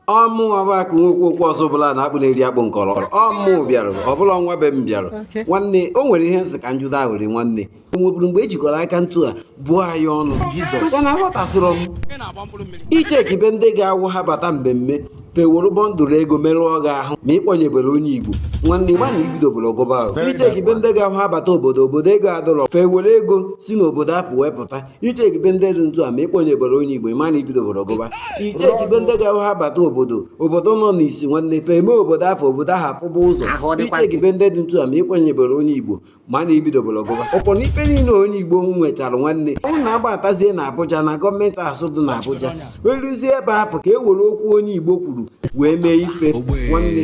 ọ mụnwa bụ akụ nwa okwu okwu ọzọ bụla na akpụ na-eri akpụ nkọrọ ọ mụ bịara ọbụla nwa be m bịara nwanne o nwere ihe nsị ka njụda ahụrị nwanne o nweburu mgbe e jikọrọ aka ntu a bụọ anyị ọnụ maka na aghọtasịrọ m i chekibe ndị ga-awụ ha bata mmemme fe eworo bọndụlụ ego merụọ gị ahụ ma ị kpọnyeberọ onye igbo nwanne ị ma na i bidoberọ gụba ahụ i chekibe ndị ga-awụ ha bata obodo obodo ego adịrọ fe ewere ego si n'obodo afụ wepụta i chekibe ndị dị ntu a ma ị kpọnyeberọ onye igbo ị ma na i bidoberọ gụba i chekibe ndị ga-awụ ha bata obodo obodo nọ n'isi nwanne fe eme obodo afụ obodo ahụ afụba ụzọ Ahụ ọ dịkwa i chekibe ndị dị ntu a ma ị kpọnyeberọ onye igbo ma na i bidoberọ gụba ị fụ na ife niile onye igbo nwechara nwanne ọ na-abatazie na Abuja na gọọmenti house dị na Abuja eruzie ebe afụ ka e were okwu onye igbo kwuru wee mee ife nwanne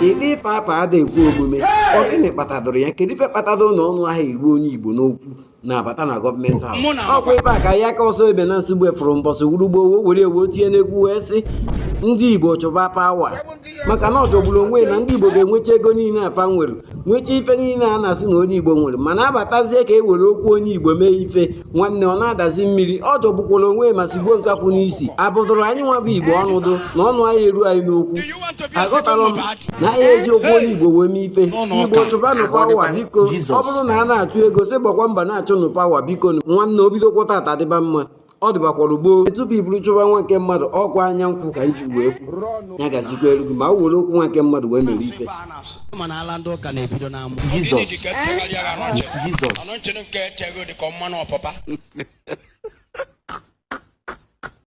ụdị ife afụ ada ekwe omume ọ gịnị kpatadoro ya kedu ife kpatadoro na ọnụ ada eru onye igbo n'okwu na-abata na gọọmenti ahụ ọkwa ebe a ka ya ka ọsọ ebe na nsogbu efuru mbọsị wurugbo owo were ewu tinye n'egwu wee sị ndị igbo chụba pawa maka na ọ jọgburu onwe na ndị igbo ga-enwecha ego niile a fa nwere nwecha ife niile a na-asị na onye igbo nwere mana abatazie ka e were okwu onye igbo mee ife nwanne ọ na-adazi mmiri ọ jọgbukwara onwe ma sigbuo nkapị n'isi a bụdụrụ anyị nwa bụ igbo ọnụ dụ na ọnụ anyị eru anyị n'okwu aghọtara m na anyị eji okwu onye igbo wee mee ife igbo chụbanụ pawa biko ọ bụrụ na a na-achụ ego sị gbakwa mbọ na-achụ nụ pawa biko nwanne o bidokwa tata dịba mma ọ dịbakwara gboo tupu i buru chụba nwa nke mmadụ ọkwa anya nkwụ ka nji wee kwu ya gazikwaalụ gị ma o were okwu nwa nke mmadụ wee mere ife Jizọs Jizọs